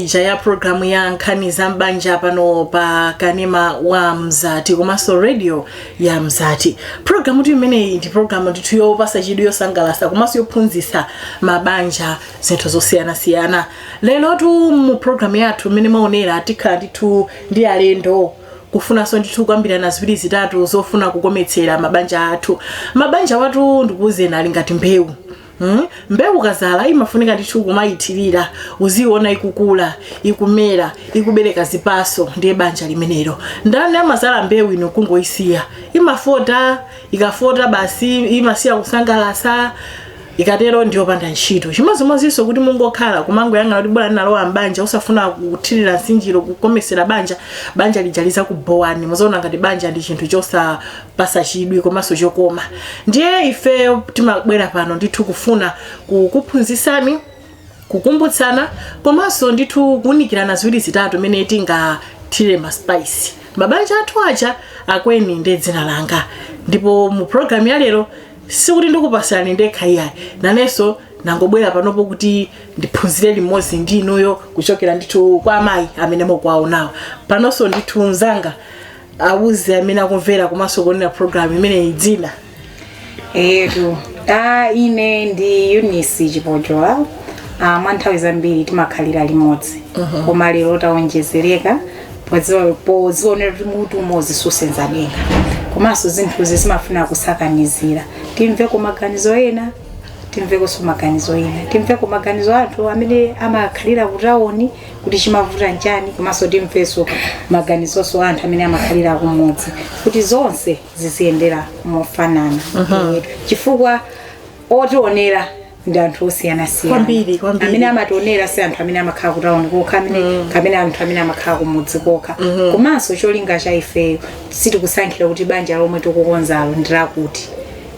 ija ya programu ya nkhani za m'banja pano pa kanema wa mzati komanso radio ya mzati programu tu imeneyi ndi programu ndithu yopatsa chidwi yosangalasa komanso yophunzitsa mabanja zinthu zosiyanasiyana lero tu mu programu yathu imene mumaonera tikhala ndithu ndi alendo kufunanso ndithu kukambirana ziwiri zitatu zofuna kukometsera mabanja athu mabanja awatu ndikuwuzeni ali ngati mbewu Hmm? mbewu ukazala imafunika ndithu kumayithirira uziyiona ikukula ikumera ikubereka zipaso ndiye banja limenelo ndaninso amazala mbewu ino kungoyisiya imafota ikafota basi imasiya kusangalasa ikatero ndiyopanda ntchito chimodzimodzinso kuti mungokhala kumangoyang'ana kuti bwana nalowa mbanja usafuna kuthirira nsinjiro kukomesera banja banja lija lizakubowani muzaona ngati banja ndi chinthu chosa pasa chidwi komanso chokoma ndiye ife timabwera pano ndithu kufuna kukuphunzitsani kukumbutsana komanso ndithu kuunikirana ziwiri zitatu mmene tingathire ma spice mabanja athu aja akweni ndi dzina langa ndipo mu programu ya lero sikuti ndikupasirani ndekha iyayi nanenso nangobwera panopo kuti ndiphunzire limodzi ndi inuyo kuchokera ndithu kwa amayi amene mukuwaonawo panonso ndithu mzanga awuze amene akumvera komanso kuonera program imeneyi dzina eyetu ine ndi eunice chipojola mwa nthawi zambiri timakhalira limodzi koma lero tawonjezereka pozionera kuti mutu umodzi susenza denga komanso zinthuzi zimafuna kusakanizira timveko maganizo ena timvekonso maganizo ena timveko maganizo anthu amene amakhalira kutawoni kuti chimavuta nchani komanso timveso maganizoso a anthu amene amakhalira kumudzi kuti zonse ziziyendera mofanana Eh, chifukwa otionera ndi anthu osiyanasiyana Kwambiri, kwambiri. amene amationera si anthu amene amakhala kutauni kokha amene kapena anthu amene amakhala kumudzi kokha komanso cholinga cha ifeyo sitikusankhira kuti banja lomwe tikukonzalo ndi lakuti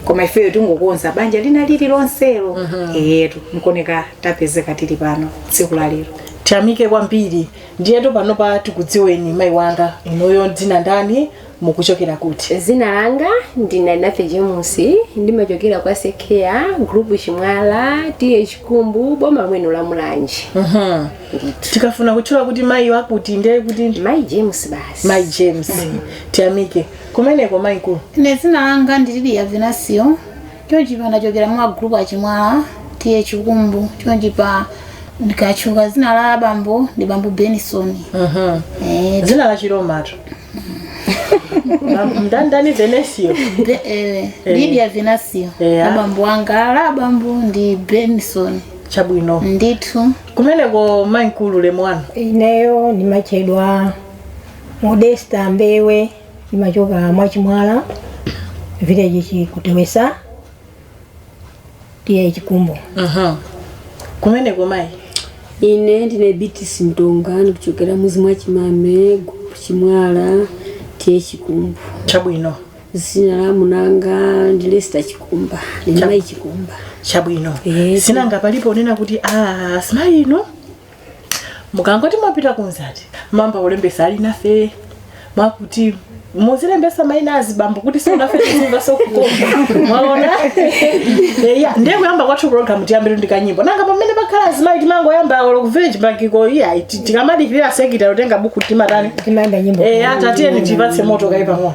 koma ifeyo tingokonza banja lina lili lonselo eyetu nkoneka tapezeka tili pano tsiku la lero tiyamike kwambiri ndiyetu panopa tikudziweni mayi wanga inuyo dzina ndani mukuchokera kuti zina langa ndine nafe james ndimachokera kwa sekea group chimwala TA chikumbu boma lino la mulanje Mhm. ndithu tikafuna kutchula kuti mayi wakuti ndiye kuti ndi mayi james basi mayi james tiyamike kumeneko mayi mkulu Ine zina langa ndi liliya Venasio Chonchipa ndachokera mwa group a Chimwala T/A Chikumbu chonchipa ndikatchuka dzina la abambo ndi bambo Benison. Eh, dzina la chiromatu ndi ndani Venasio Be- eh, Lydia Venasio Yeah. abambo anga la abambo ndi Benison chabwino ndithu kumeneko mayi mkulu ulemu wanu ineyo ndimatchedwa Modesta Mbewe ndimachoka mwa Chimwala village chikutewesa T/A Chikumbu Aha. Kumeneko mayi. ine ndine Beatrice Mtonga ndikuchokera muzi mwa Chimame group Chimwala T/A Chikumbu Chabwino. zina la munanga ndi Lester Chikumba ndine mayi Chikumba Chabwino. Eh. Sinanga palipo onena kuti ah si mayi ino. mukangoti mwapita kunzi ati mwayamba kulembesa ali nafe mwakuti muzilembesa maina azibambo kuti sionafe tizingasokuoma mwaona eya ndiye kuyamba kwathu programu tiyambire ndi kanyimbo nanga pamene pakhala azimayi timangoyamba olo ku village bankiko iya ti- tikamadikirira secretary otenga buku timatani Timayimba nyimbo. eya tatiyeni tipatse moto kaye pang'ono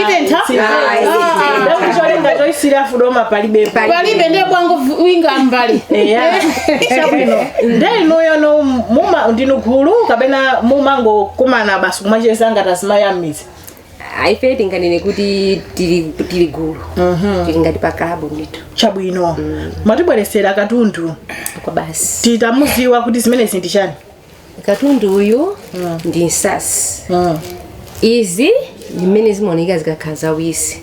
itentha ndakucholenga choisira fudoma palibepo palibe ndiye bwangu vu- winga mbali eya chabwino nde inuyono muma ndinu gulu kapena mumangokumana basi kumacheza ngati azimayi a m'mizi ah ife tinganene kuti tili tili gulu tili ngati pa klabu ndithu chabwino mwatibweresera katundu kwabasi titamuziwa kuti zimenezi ndi chani katundu uyu ndi nsatsi izi ndi mmene zimaoneka zikakhala zawisi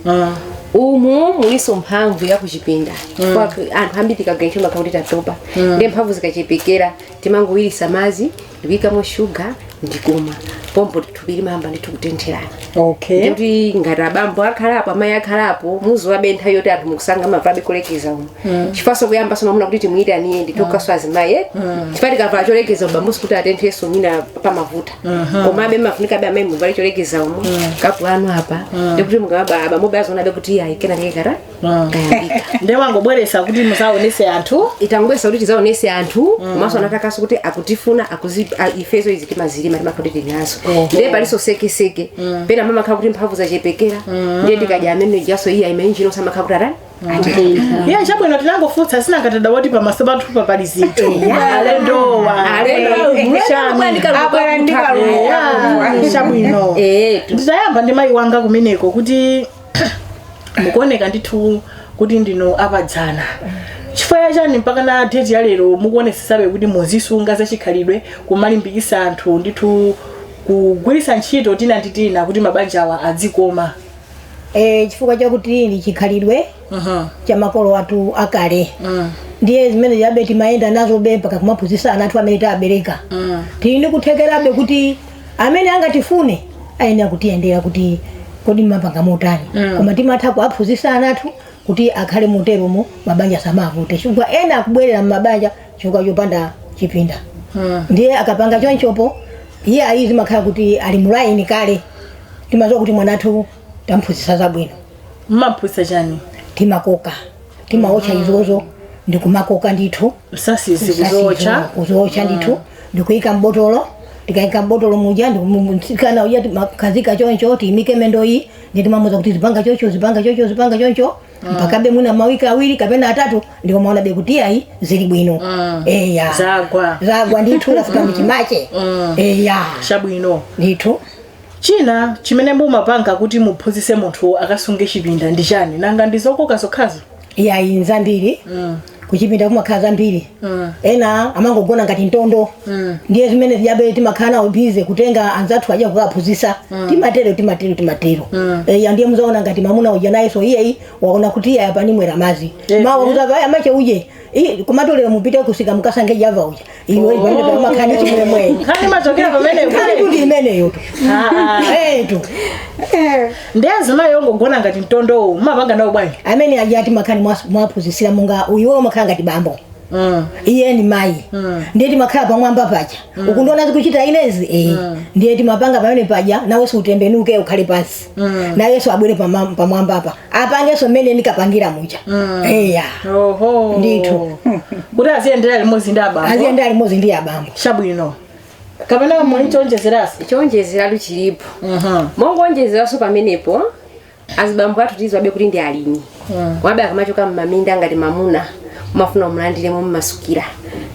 umu mulinso mphamvu ya kuchipinda Kwa- anthu ambiri tikagwira ntchito makhala kuti tatopa nde mphamvu zikachepekera timangowirisa madzi ndikuyikamo shuga ndikumwa pompo thupi limayamba ndithu kutentherana okay kuti ngati abambo akhalapo amayi akhalapo muziwabe nthawi yoti anthu mukusanga mapabe cholekeza umu chifukwanso kuyamba sonamuna kuti timuyitaniye nditokaso azimayi eh? chifukwa tikavala cholekeza ubambusi kuti atenthenso mwina pamavuta komabe mafunikabe amayi muvale cholekeza umu kapu anu apa ndikuti mukaba abambobe azionabe kuti ayi kenakake nde wangobweresa kuti muzaonese anthu tangobweresa kuti tizaonese anthu komanso anatakaso kuti akutifuna akuzi- a- ifezo izi timazilima timakhala kuti tinazo Oho. ndiye palinso sekeseke pena mamakhala kuti mphamvu zachepekera ndiye tikadya amene jaso iya imainjino samakhala kuti atani iye chabwino tinangofunsa sinanga tadabwa oti pamaso pathupa pali zinthu alendowa abwera ndi kalulu chabwino Eh, tu- nditayamba ndi mayi wanga kumeneko kuti mukuoneka ndithu kuti ndinu apadzana chifukwa chani mpaka na date ya lero mukuonesesabe kuti muzisunga zachikhalidwe kumalimbikisa anthu ndithu kugwirisa ntchito tina ndi tina kuti mabanja awa adzikoma Eh, chifukwa chakuti nchikhalidwe Mhm. cha makolo athu akale Mm. ndiye zimene zijabe timayenda nazobe mpaka kumaphunzisa ana athu amene tabereka Mm. tili ndi kuthekerabe kuti amene angatifune ayenera kutiyendera kuti kodi mmapanga motani koma timatha kuwaphunzitsa ana athu kuti akhale moteromo mabanja samavute chifukwa ena akubwelera mmabanja chifukwa chopanda chipinda ndiye akapanga chonchopo iye ayi zimakhala kuti ali mulaini kale timaziwa kuti mwana wathu tamphunzitsa zabwino mmaphunzitsa chani timakoka timaotcha izozo ndikumakoka ndithu nsatsizi kuzotcha kuzotcha ndithu ndikuyika mbotolo tikayika mbotolo muja nde kamsikana uja timamkhazika choncho tiyimike mendoyi nde timamuuza kuti zipanga chocho zipanga chocho zipanga choncho mpakabe mwina mawiki awiri kapena atatu ndipo umaonabe kuti ayi zili bwino eya zagwa zagwa ndithu zafika mchimache eya chabwino ndithu China chimene mumapanga kuti muphunzitse munthu akasunge chipinda ndi chani? Nanga ndi zokoka zokhazo? Iyayi nzambiri. Kuchipinda kumakhala zambiri. Ena amangogona ngati mtondo. Ndiye zimene zijabe timakhala nawo busy kutenga anzathu aja kukawaphunzitsa. Timatero timatero timatero. Eya ndiye muzaona ngati mamuna uja nayenso iyeyo waona kuti iyayi apa ndamwera madzi. Mawa muzava a mache uje Ii, komatu lero mupite kusika mukasankhe java uja iwe iwe umakhala ndi chimwemwe nkhani imachokera pamenepo nkhani kuti imeneyotu eh tu nde azimayi ongogona ngati mtondowo mumapanga nawo bwanji amene aja aja timakhala ndi mwas- mwaphunzisira munga iwe umakhala ngati bambo Mm. iye ni mayi ndiye timakhala pamwamba paja ukundiona zikuchita inezi eh ndiye timapanga pamene paja nawe so utembenuke ukhale pansi nayeso abwere pama- pamwamba apa apangeso mmene ndikapangira muja eya oho Ndithu. kuti aziyendera limodzi ndi abambo aziyenda alimodzi ndi abambo chabwino kapena muli chonjezerasi chonjezera tu chilipo mongonjezeranso pamenepo azibambo athu tiziwabe kuti ndi alimi awabe akamachoka mmaminda ngati mamuna umamfuna umulandire momasukira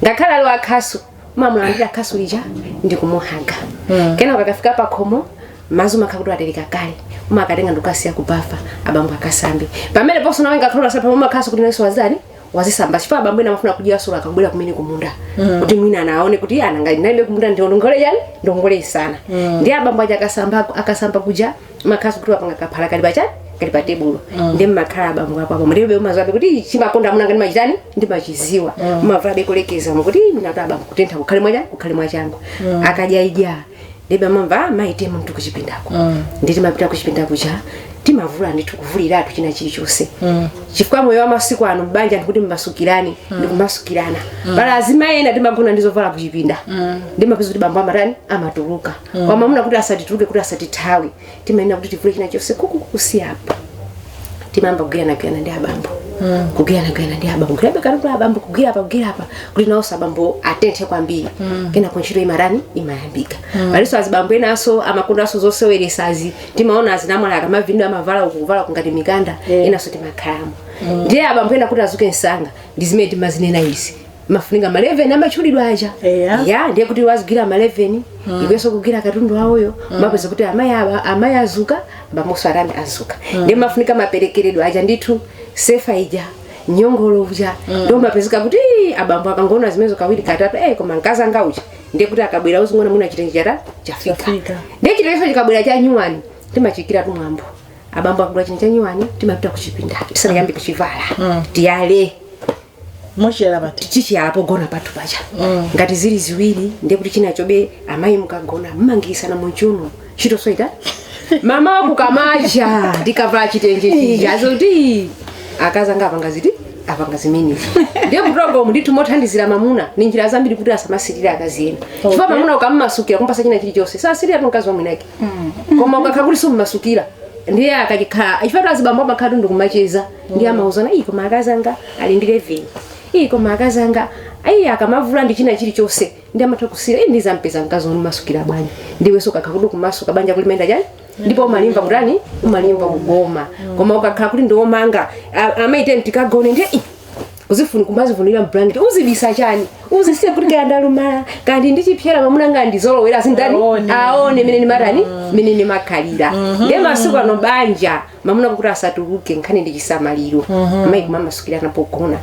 ngakhale ali ndi khasu umamulandira khasu lija ndi kumuhaga mm. kenako akafika pa khomo mazi umakhala kuti watereka kale umakatenga ndikukasiya kubafa abambo akasambe pamene ponso nawe sungakhale wosasamba umakhalaso kuti nawenso watani wazisamba chifukwa abambo ena amafuna kudya solo akabwera kumene kumunda mm. kuti mwina anaone kuti nanga ndinalibe kumunda ngongole yanu ngongole isana mm. ndi abambo aja akasamba akasamba kuja makhasu kuti wapanga kaphala kali pachani kali pa tebulo ndi mmakhala abambo apo apo mutebe umazabe kuti chimakonda amuna ngati machitani ngati machiziwa umavulabe kulekeza umu kuti mina kuti abambo kutentha kukhale mwacha kukhale mwachangu akadya idya ndibe amamva amayi tiyeni kuchipindako ndiye timapita kuchipindako cha timavula ndithu kuvuliratu china chilichonse chifukwa moyo wa masiku ano mbanja ndikuti mmasukirane ndi kumasukirana pali azimayi ena timagona ndizovala kuchipinda ndiye mapeza kuti bambo amatani amatuluka mm. wamamuna kuti asatituluke kuti asatithawe timayenera kuti tivule china chonse kusiya apa timayamba kugwiranagwirana ndi abambo mm. kugwiranagwirana ndi abambo kugwirabekana ndi abambo kugwira apa kugwira apa kuti nawonso abambo atenthe kwambiri mm. kenako ntchito imatani imayambika mm. palinso azibambo enanso amakondanso zoseweretsazi timaona azinamwali akamavinidwa amavala uku kuvala kungati mikanda yeah. enanso timakhalamo mm. ndiye abambo ena kuti azuke msanga ndi zimene timazinena izi mafunika ma 11 amatchulidwa aja Eya. ya ndiye kuti wazigwira ma 11 iwenso kugwira katundu wawoyo mapeza kuti amayi awa amayi azuka bambonso atani azuka ndiye mafunika maperekeredwa aja ndithu sefa ija nyongolo uja ndiye mapezeka kuti "Ii, abambo akangoona zimenezo kawiri katatu eh koma akazi anga uja ndiye kuti akabwera uzingona mwina chitenji chata chafika Chafika. ndiye chitenjiso chikabwera cha nyuwani timachichitiratu mwambo abambo akagula chinthu cha nyuwani timapita kuchipinda tisanayambe kuchivala tiyale muchiyala pati tichiyala pogona pathu pacha mm. ngati zili ziwiri ndiye kuti chinachobe amayi mukagona mmangilirana mchiuno ntchitonso itani mmawa kukamacha ndikuvala chitenje chija zoti akazanga apanga chiti apanga zimene ndiye akutogoma ndithu mosangalatsira mamuna ni njira zambiri kuti asamasirire akazi ena chifukwa mamuna ukammasukira kumpasa china chilichonse sasiriratu mkazi wamwini wake mm. koma ukakhala kuti summasukira ndiye akachikhala chifukwatu azibambo amakhalatu ndikumacheza ndiye amauzana iyi koma akazi anga ali ndi leveni iyi koma akazi anga ayi akamavula ndi china chilichonse ndiye amatha kusirira iyi ndizampeza mkazi wonimasukira bwanji ndiwenso ukakhala kuti ukumasuka banja ulimanga chani ndipo umalimva kutani umalimva kugoma koma ukakhala kuti ndiwomanga amayi tiyeni tikagone ndiye "Ih, uzifuna kumazifundira blanket uzibisa chani uzisiya kuti kaya ndalumala kaya ndi ndichipsera mamuna wanga ndizolowera azitani Aone. aone mene ndimatani mene ndimakhalira ndiye masiku ano banja mamuna kuti asatuluke nkhani ndi chisamaliro amayi kumamasukirana pogona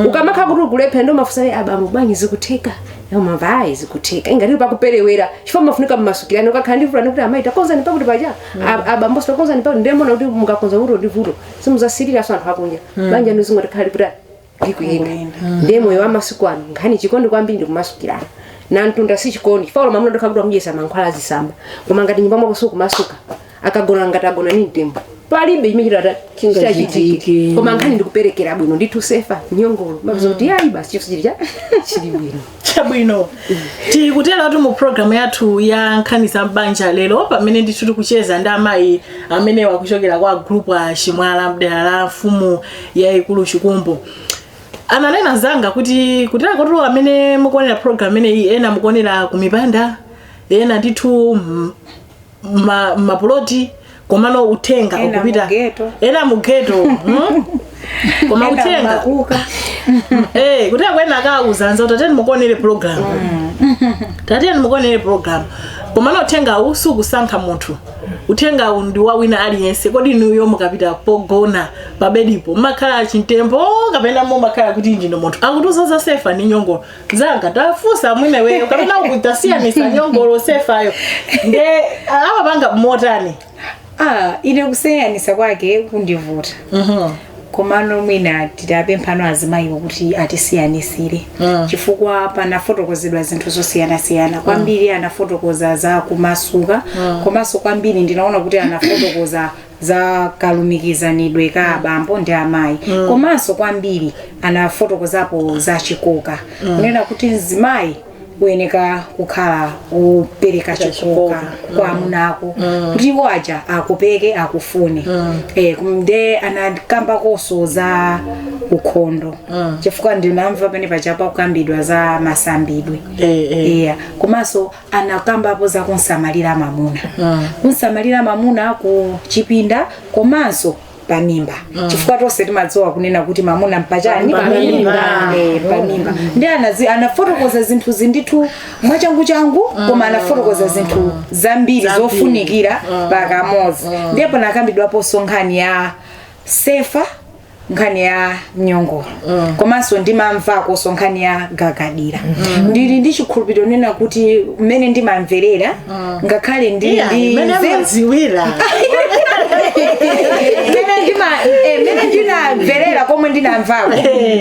ukamakhala kuti ukulephera ndiye mafunsa ayi abambo bwanji zikutheka Iyo, mayi ayi zikutheka ngati pakuperewera chifukwa mafunika mmasukirana ukakhala ndi vuto kuti amayi takonzani pakuti paja A- abambo takonzani pakuti ndiye muona kuti mukakonza vuto ndi vuto simuzasiriranso anthu akunja banja ndiye zingotikhalira kuti ikuyenda ndiye moyo wamasiku ano nkhani chikondi kwambiri ndikumasukirana na mtunda si chikondi chifukwa olo mamuna ndiye kukhala kuti amudyesa mankhwala azitsamba koma ngati nyumba mwako sukumasuka akagona ngati agona ni mtembo palibe chimene chitata Chingachitike. chitachitike koma nkhani ndikuperekera bwino ndithu sefa nyongolo mabizo kuti ayi basi chinthu chili cha chili bwino chabwino tikutera kuti mu programu yathu ya nkhani za m'banja lero pamene ndithu tikucheza ndi amayi amenewa kuchokera kwa group a chimwala mdera la mfumu yayikulu chikumbu ananena mzanga kuti kutereku tu amene mukuonera programu imeneyi ena mukuonera kumipanda ena ndithu mm, ma- mapuloti komano uthenga Ena ukupita mugeto. ena mugeto hmm? koma Ena uthenga makuka. Eh, kuti akwenawa kauza anza kuti tatiyeni mukaonere program tatiyeni mukaonere program komano uthengawu sukusankha munthu uthengawu ndi wa wina aliyense kodi inuyo mukapita pogona pabedipo mumakhala chimtembo kapena mumakhala kuti ndinu munthu akutiuza za sefa ndi nyongolo zanga tafunsa mwini weyo kapena kutisiyanitsa nyongolo sefayo nde amapanga motani ah ine kusiyanitsa kwake kundivuta Mhm. komano mwina titapempha no azimayiwo kuti atisiyanitsire Mm. chifukwa panafotokozedwa zinthu zosiyanasiyana kwambiri anafotokoza za kumasuka komanso kwambiri ndinaona kuti anafotokoza za kalumikizanidwe ka abambo ndi amayi komanso kwambiri anafotokozapo za chikoka kunena kuti mzimayi uyeneka kukhala wopereka chikoka kwa amuna ako kuti iwo aja akopeke akufune Eh, kum- nde anakambakonso za ukhondo chifukwa ndinamva pena paja pakukambidwa za masambidwe Eh, eh. iya komanso anakambapo za kumsamalira mamuna mm. kumsamalira mamuna ku chipinda komanso pamimba mm. chifukwa tonse timadziwa kunena kuti mamuna mpachani pamimba eh, pamimba mm. nde anazi anafotokoza zinthu zindithu mwachangu changu mm. koma anafotokoza zinthu zambiri zofunikira mm. pakamodzi mm. ndi panakambidwaponso nkhani ya sefa nkhani ya nyongolo mm. komanso ndimamvakonso nkhani ya gagadira mm. ndili ndi chikhulupiriro kunena kuti mmene ndimamverera mm. ngakhale ndili yeah, ndi mmene nzeru- amadziwira mmene ndima- eh, mmene ndinamverera komwe ndinamvako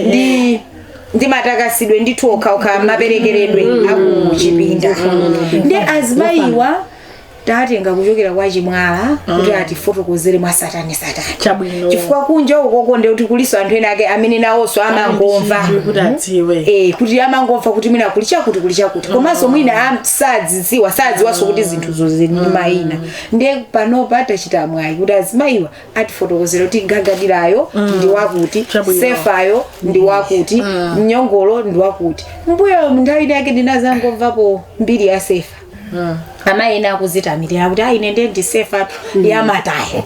ndi ndi matakasidwe ndithu okhaokha maperekeredwe akuchipinda nde azimayiwa tatenga kuchokera kwa chimwala kuti atifotokozere mwa tsatanetsatane Chabwino. chifukwa kunja ukoko nde kuti kulinso anthu ena ake amene nawonso amangomva Chidwi kuti adziwe Eh, kuti amangomva kuti mwina kuli chakuti kuli chakuti komanso mwina am- sadzidziwa sadziwanso kuti zinthuzo zili ndi mayina nde panopa tachita mwayi kuti azimayiwa atifotokozera kuti gagadirayo ndi wakuti Chabwino. sefayo ndi wakuti nyongolo ndi wakuti mbuyo munthawi yake ndinadzangomvapo mbiri ya sefa amayi ena akuzitamirira kuti ayi ine ndiye ndisefa yamataya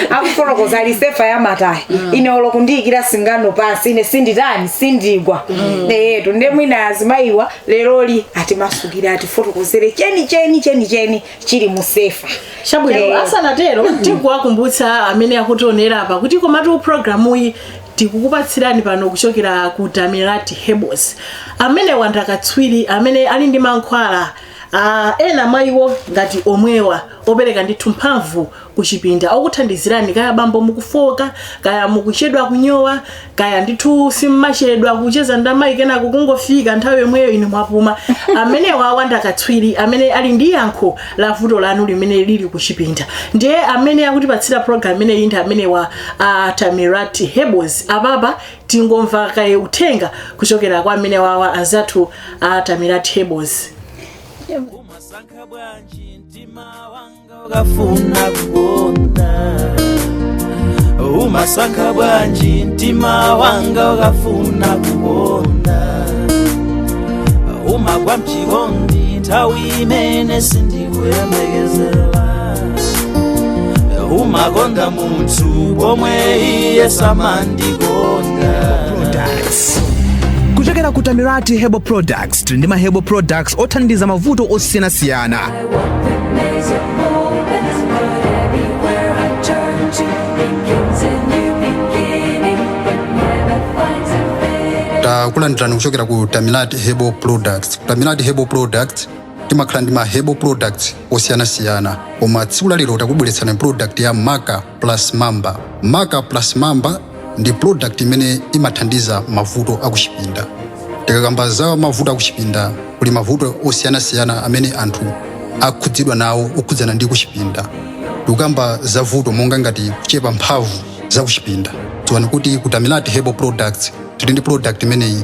akufotokoza kuti ali sefa yamataya ine olo kundiikira singano pansi ine sinditani sindigwa eyetu nde mwina azimayiwa leroli atimasukire atifotokozere cheni cheni cheni cheni chili mu sefa chabwino Eh. asanatero tikuwakumbutsa amene akutionera apa kuti komatu programu iyi tikukupatsirani pano kuchokera ku Tamirati Herbals amene wa nda katswiri amene ali ndi mankhwala uh, ena mwa iwo ngati omwewa opereka ndithu mphamvu kuchipinda okuthandizirani kaya bambo mukufoka kaya mukuchedwa kunyowa kaya ndithu simmachedwa kucheza ndamayi kenako kungofika nthawi yomweyo inu mwapuma amenewa nda katswiri amene ali ndi yankho la vuto lanu limene lili kuchipinda ndiye amene akutipatsira program imeneyi ndi amenewa a Tamirati Herbals apapa tingomva kaye uthenga kuchokera kwa amenewawa anzathu a Tamirati Herbals umasankha bwanji mtima wanga ukafuna kukonda umasankha bwanji mtima wanga ukafuna kukonda umagwa mchikondi nthawi imene sindikuyembekezera umakonda munthu pomwe iye samandikonda kuchokera ku tamirati herbal products tili ndi ma herbal products othandiza mavuto osiyanasiyana takulandirani kuchokera ku tamirati herbal products ku Tamirati Herbal Products timakhala ndi ma herbal products osiyanasiyana koma tsiku lalero takubweretserani product ya Maka plus Mamba. Maka plus Mamba ndi product imene imathandiza mavuto akuchipinda. Tikakamba za mavuto akuchipinda kuli mavuto osiyanasiyana amene anthu akhudzidwa nawo okhudzana ndi kuchipinda. Tikukamba za vuto monga ngati kuchepa mphamvu za kuchipinda. Dziwani kuti ku Tamirati Herbal Products tili ndi product imeneyi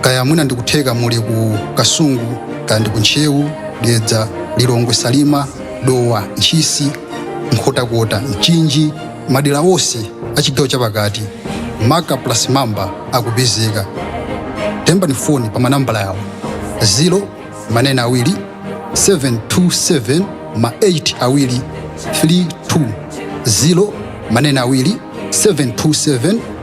kaya mwina ndikutheka muli ku kasungu kaya ndi ku ntcheu dedza lilongwe salima dowa ntchisi nkhotakota mchinji madera onse a chigawo chapakati maka plus mamba akupezeka Tiimbireni foni pa manambala awa 0 ma naini awiri 727 ma 8 awiri 32 0 ma naini awiri 727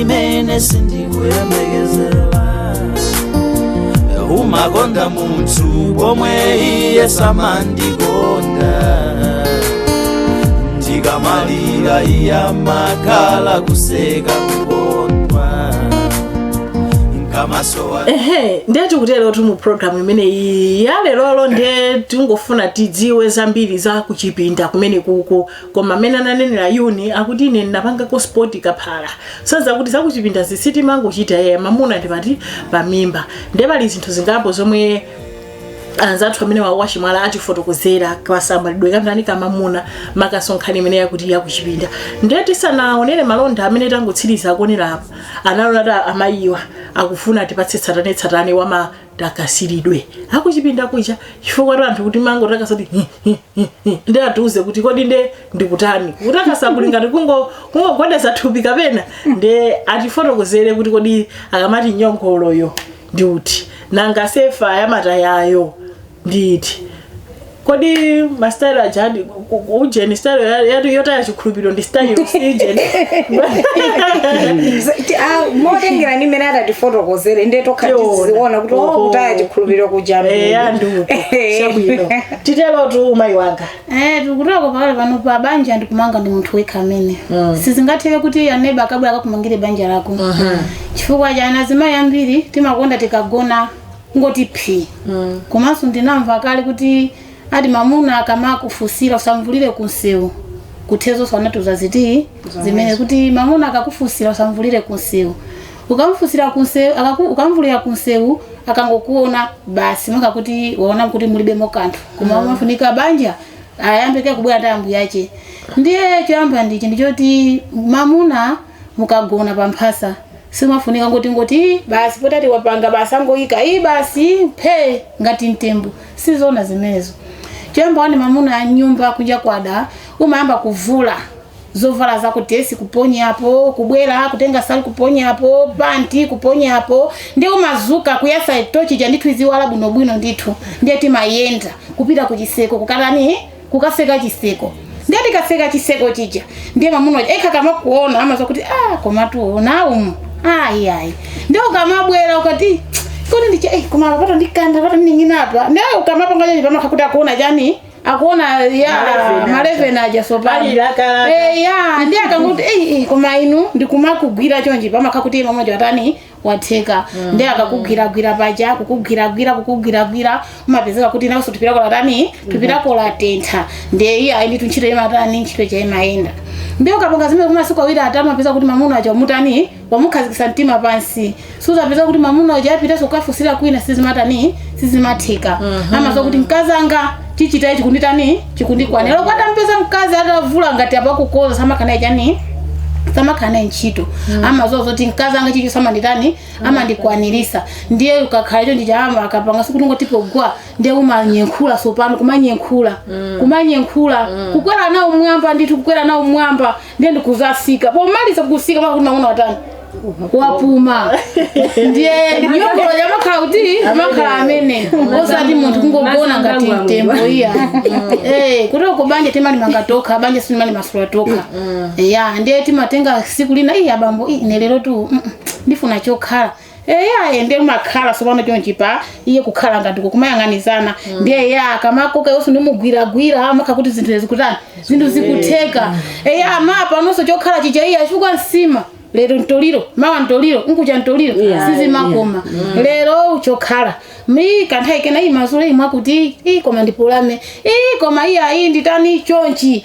imene sindikuyembekezera umakonda munthu pomwe iye samandikonda ndikamalira iye amakhala kuseka kukondwa ndikamasowa ehe ndiye tikuterotu mu programu imeneyi ya lerolo ndiye tingofuna tidziwe zambiri za kuchipinda kumene kuko koma mmene ananenera yuni akuti ine ndinapanga kosi yapalasanza kuti zakuchipinda sizoti mangochita yeye mamuna ndi pamimba ndiye pali zinthu zingapo zomwe anzathu amene awa a Chimwala atifotokozera kasamalidwe kantani kamamuna makamaka nkhani imene yakuti yakuchipinda ndiye tisanaonere malonda amene tangotsiriza akuonera apa analona kuti amayiwa akufuna atipatse tsatanetsatane wa matakasidwe akuchipinda kuja chifukwa tu anthu kuti mangotakasa kuti ndi atiuze kuti kodi nde ndikutani kutakasa kuli ngati kungo- kungogwedeza thupi kapena nde atifotokozere kuti kodi akamati nyongoloyo ndi uti nanga sefa yamatayayo ndi iti kodi mastyle ajadi ujeni style ya- ya- yotaya chikhulupiriro ndi style ujeni motengera ndi mmene atatifotokozere nde tokha Tiona. tiziona kuti Oho. okutaya chikhulupiriro kuja mbiya ndi uti chabwino titerotu mayi wanga Eh, chikutoko pakadali pano banja ndikumanga ndi munthu wekha amene Mm. sizingatheke kuti aneba akabwera akakumangire banja lako chifukwa cha ana zimayi ambiri timakonda tikagona ngoti phi Mm. komanso ndinamva kale kuti ati mamuna akamakufunsira usamvulire kunsewu kuchezanso anatiuza zinthu zimene kuti mamuna akakufunsira usamvulire kunsewu Ukamfunsira kunsewu akaku ukamvulira kunsewu akangokuona basi monga kuti waona kuti mulibemo kanthu koma mm. umafunika banja ayambe kaye kubwera ndi ambuyake ndiye choyamba ndichi ndichoti mamuna mukagona pa mphasa simafunika ngoti ngoti basi potati wapanga basi angoyika iyi basi phe ngati mtembo sizona zimenezo choyamba wani mamuna m'nyumba kunja kwada umayamba kuvula zovala zako dilesi kuponyapo kubwera kutenga nsalu kuponyapo panti kuponyapo ndi umadzuka kuyasa tochi ija ndithu iziwala bwinobwino ndithu ndiye timayenda kupita ku chiseko kukatani kukaseka chiseko ndiye tikaseka chiseko chija ndiye mamuna yekha akamakuona amadziwa kuti ah komatu muno umu ayi ayi ndiye ukamabwera ukati kodi ndicha eh koma apapata ndi mikanda apapatu ndining'ina apa ndiye ukamapanga chonchi pamakhala kuti akuona chani akuona ma eleveni ma eleveni aja sopano akulakalaka. Eh, ya ndi akangoti "Ei, ei, koma inu ndikumakugwira chonchi pamakhala kuti mamuna uja watani watheka ndi akakugwiragwira paja kukugwiragwira kukugwiragwira umapezeka kuti nawenso thupi lako latani thupi lako latentha ndiye iye ayi ndithu ntchito imatani ntchito ija imayenda ndi ukapanga zimene kumasiku awiri atatu umapeza kuti mamuna uja umutani wamukhazikisa mtima pansi suzapeza kuti mamuna uja apitanso kukafunsira kwina sizimatani sizimatheka Mhm. amadziwa kuti mkazi anga chichitachi chikunditani chikundikwanira loko atampeza mkazi atavula ngati apakukoza samakanaye chani samakanaye ntchito amadziwa zoti mkazi anga chichoso amanditani amandikwanirisa ndiye ukakhala chonchija maka akapanga siku timagwa ndiye umanyekhula sopano kumanyekhula kumanyekhula kukwera nawo mwamba ndithu kukwera nawo mwamba ndiye ndi kuzatsika pomaliza kutsika mwakuti mamuna watani wapuma ndiye nyongolo imakhala kuti imakhala imeneyo osati munthu kungogona ngati mtembo iya Eh, kuti uko banja timali manga tokha banja sinimali masula tokha ya ndiye timatenga siku lina iyi abambo iyi nelero tu mm, mm, ndifuna chokhala eyaye ndiye kumakhala sopano chonchi pa iye kukhala ngati kumayang'anizana ndiye eya akamakoka yonse ndi kumugwiragwira amakhala kuti zinthu zikutani zinthu zikutheka eya mawa panonso chokhala chija iye chifukwa nsima lero mtoliro mawa mtoliro nkuja mtoliro Yeah, sizimakoma lero chokhalami kanthawi kena iyi mazule iyi mwakuti iyi koma ndipolame iyi koma iyi ayi nditani chonchi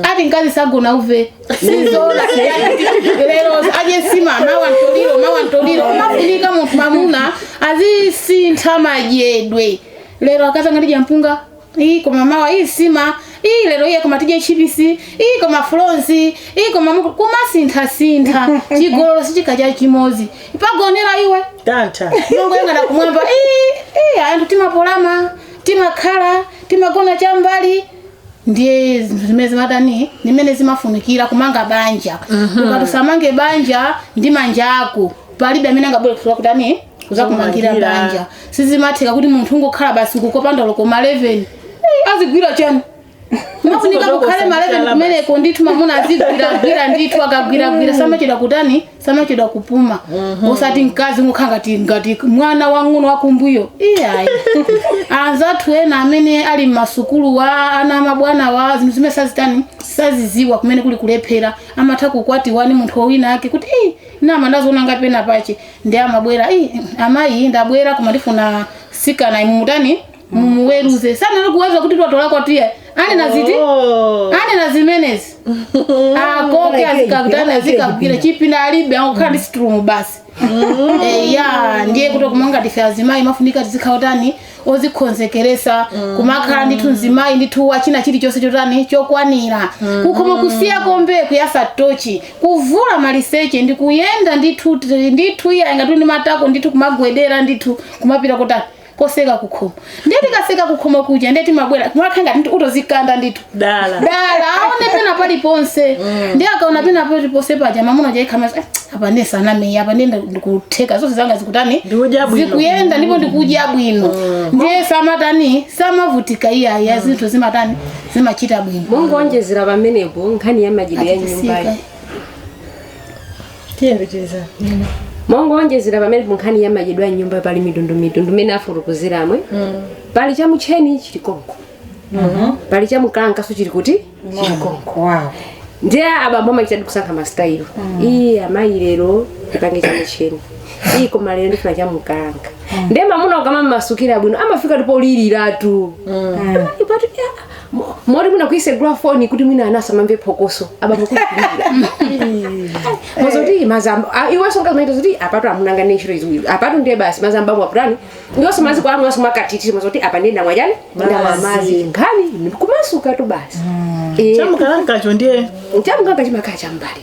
ati mkazi sagona uve Sizoti lero adye nsima mawa ntoliro mawa ntoliro mafunika munthu mamuna azisintha madyedwe lero akazanga tidya mpunga iyi koma mawa iyi nsima iyi lero iye koma tidye chipisi iyi koma fulonzi iyi koma muku- kumasinthasintha chigololo sichikachita chimodzi pagoneredwe tantha ungoyang'ana kumwamba "Ii, ii, anthu timapolama timakhala timagona chambali ndiye zinthu zimene zimatani zimene zimafunikira kumanga banja ukati usamange banja ndi manja ako palibe amene angabwere kuzakutani kuzakumangira Kumangira. banja sizimatheka kuti munthu ungokhala basi uko opanda loko ma 11 Eh, azigwira chani mafunika Kudokosa kukhale ma 11 kumeneko ndithu mamuna azigwiragwira ndithu akagwiragwira samachita kutani samachedwa kupuma osati mkazi ukhala ngati ngati mwana wang'ono wakumbuyo iyayi anzathu ena amene ali mmasukuluwa ana a mabwanawa zinthu zimene sazitani saziziwa kumene kuli kulephera amatha kukwatiwa ndi munthu winawake kuti "Ih, nane ndaziona ngati penapake ndiye amabwera "Ih, amayi ndabwera koma ndifuna sikanayu mumutani mumuweruze sanalo kuuza kuti tatola kwawo tiye anena ziti Oh. anena zimenezi akoke azikakutana azikagwira chipinda alibe akukhala m'sitingirumu basi Eh, ya ndiye kuti kumanga tife azimayi mafunika tizikhala tani ozikonzekeresa kumakhala ndithu mzimayi ndithu wachinachilichonse chotani chokwanira kukhoma kutseka pompo kuyasa tochi kuvula maliseche ndi kuyenda ndithu ndithu iyayi ngati ndi matako ndithu kumagwedera ndithu kumapita kotani kofika kukhomo ndiye tikafika kukhomo kuja ndiye timabwera mwakhe ngati ndi utodzikanda ndithu dala dala aone pena paliponse ndiye akaona pena paliponse paja mwamuna uja iih amayi apa ndiye sanamete apa ndiye ndikutheka zonse zanga zikutani Ndikudya bwino. zikuyenda ndipo ndikudya bwino ndiye samatani samavutika iyayi zinthu zimatani zimachita bwino mongonjezera pamenepo nkhani ya machitidwe ya nyumbayo Atisika. tiyembekeza chani mongowonjezera pamenepo nkhani ya machitidwe a nyumba pali mitundu mitundu imene afotokozera mwemo pali cha mutcheni chili konko pali cha mkankhanso chili kuti chili konko wow ndiye abambo amachitadi kusankha masitayilo iyi amayi lero tipange cha mutcheni iyi koma lero ndifuna cha mkankha ndiye mamuna ukamumasukira bwino amafika ndipo kuliliratu ipatu Mo- moti mwina kutsegula foni kuti mwina ana asamamve phokoso abambo mozoti mazambo ah, iwenso umachita zoti apatu amunanga ndi ntchito iziwiri apatu ndiye basi mazambo amwe aputani iwenso madzi ako amwanso amakhutitsidwa zoti apa ndiye ndamwa chani ndamwa madzi nkhani kumasukatu basi Eh, chamkankhacho ndiye chamkankha chimakhala chambali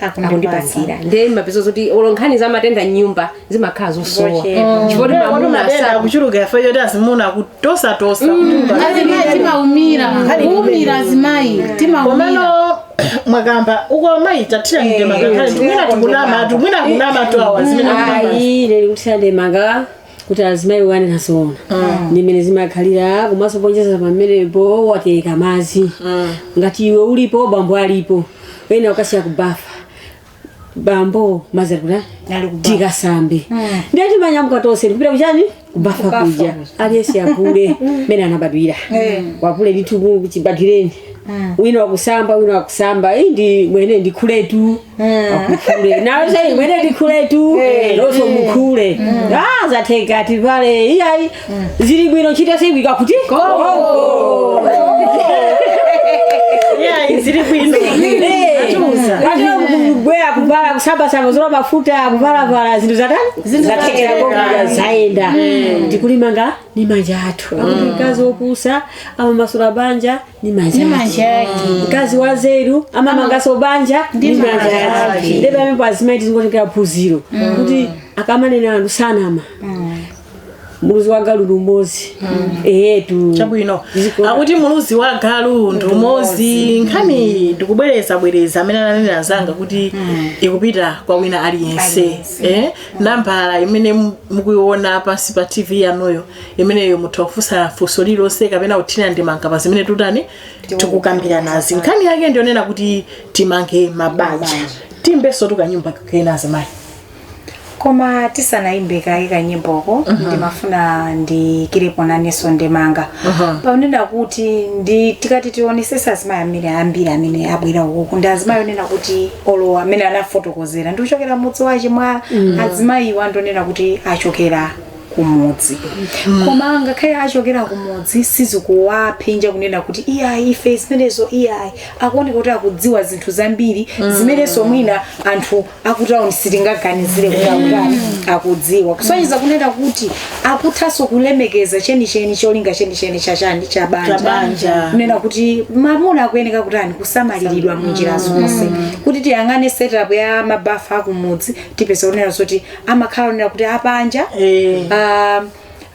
akundipangira ndiye umapeza zoti olo nkhani za matenda mnyumba zimakhala zosowa Zochepa. chifukwa kuti mamuna matenda asa akuchuluka ife choti azimuna kutosatosa azimai timaumira kuumira azimai timaumira komano mwakamba uko amayi tathirani ndemanga kaletu mwina tikunamatu mwina kunamatu awa zimene ayi tathirani ndemanga kuti azimayi anena zoona ndi mmene zimakhalira komanso poonjezera pamenepo watereka madzi ngati iwe ulipo bambo alipo umakasiya kubafa bambo madzi ali kuti Ali kubafa. tikasambe ndiye timanyamuka tonse tikupita kuchani kubafa Kubafa kuja kuja. aliyense avule mmene anabadwira wavula ndithu chibadwireni wina wakusamba wina wakusamba iyi ndimwe ndikhuletu Akukhule. nawe ndimwe ndikhuletu Eh. wenso mukhule Ah, zatheka tivale iyayi zili bwino ntchito sivuta kuti iyayi zili bwino atuza patira kubwera kuvala kusambasamba dzola mafuta kuvalavala zinthu zatani zathekera konkuja zayenda tikulimanga ni manja athu akuti mkazi wopusa amamasula banja ni manja Ni manja yake. mkazi wanzeru amamanganso banja Ndi ni manja manja yake yake. ndi pamene azimai tizingotengera phunziro kuti akamanena anthu sanama muluzi wa galu ndi umozi eyetu chabwino Ziko- akuti muluzi wa galu ndi umozi nkhaniyi ndikubwereza bwereza mmene ananenera anzanga kuti ikupita kwa wina aliyense eh? nambala imene mu- mukuiona pansi pa tv yanuyo imeneyo mutha kufunsa funso lililonse kapena kuthirira ndemanga pa zimene tutani tikukambiranazi nkhani yake ndiyonena kuti timange mabanja tiyimbensotu kanyimbo kena azimayi koma tisanayimbe kaye kanyimboko ndimafuna ndiyikirepo nanenso ndemanga pakunena kuti ndi tikati tionesesa azimayi amene ambiri amene abwera ukuku ndi azimayi onena kuti olo amene anafotokozera ndikuchokera mudzi wa chimwala azimayiwa ndionena kuti achokera kumudzi koma ngakhale achokera kumudzi sizikuwaphinja kunena kuti iyayi ife zimenezo iyayi akuoneka kuti akudziwa zinthu zambiri zimenenso mwina anthu akutauni sitingaganizire kuti akutani akudziwa kusonyeza kunena kuti akuthanso kulemekeza chenicheni cholinga chenicheni chachani cha Cha banja. banja kunena kuti mamuna akuyeneka kutani kusamaliridwa mu njira zonse kuti tiyang'ane setup ya mabafa akumudzi tipeza kunena zoti amakhala onena kuti apanja Eh. ah,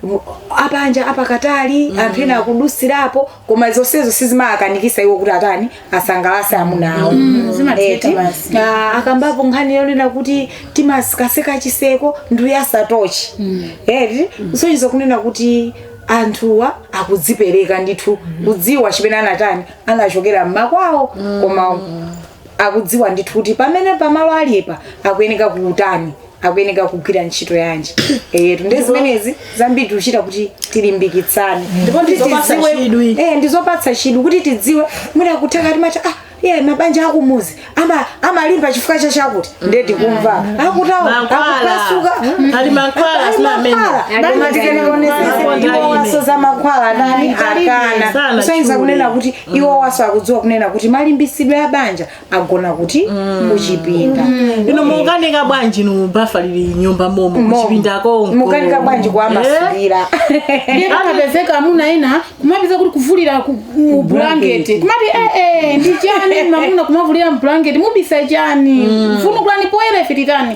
mu- apanja apakatali anthu ena akudusirapo koma zonsezo sizimawakanikisa iwo kuti atani asangalase amuna awo zimatheka Eti, basi. ah, akambapo nkhani yonena kuti timasekaseka chiseko ndikuyasa tochi eti kusonyeza kunena kuti anthuwa akudzipereka ndithu kudziwa chimene anatani anachokera mmakwawo koma akudziwa ndithu kuti pamene pamalo alipa akuyeneka kutani akuyeneka kugwira ntchito yanji eyetu ndi zimenezi zambiri tikuchita kuti tilimbikitsane Ndipo Kuti ndizopatsa tidziwe- chidwi. eh ndizopatsa chidwi kuti tidziwe mwina kutheka timati ah iye mabanja akumuzi ama amalimba chifukwa cha chakuti ndiye tikumva akutauni Mankhwala. akupasuka Ali mankhwala, Ali sina amene. mankhwala. Ali Banja mankhwala. tikanekonesa Mankhwala. iwo wasoza mankhwala ndani Alibe. akana Sana kusonyeza chule. kunena kuti iwowanso akudziwa kunena kuti malimbisidwe a banja agona kuti kuchipinda inu mukanika bwanji inu bafa lili m'nyumba momo Momo. kuchipinda konko mukanika bwanji kuwamasulira ndiye akapezeka amuna ena kumapeza kuti kuvulira ku- mu bulangeti kumati ee ndi chani mamuna kumavulira mu bulangeti mubisa chani vundukulani poyera ife titani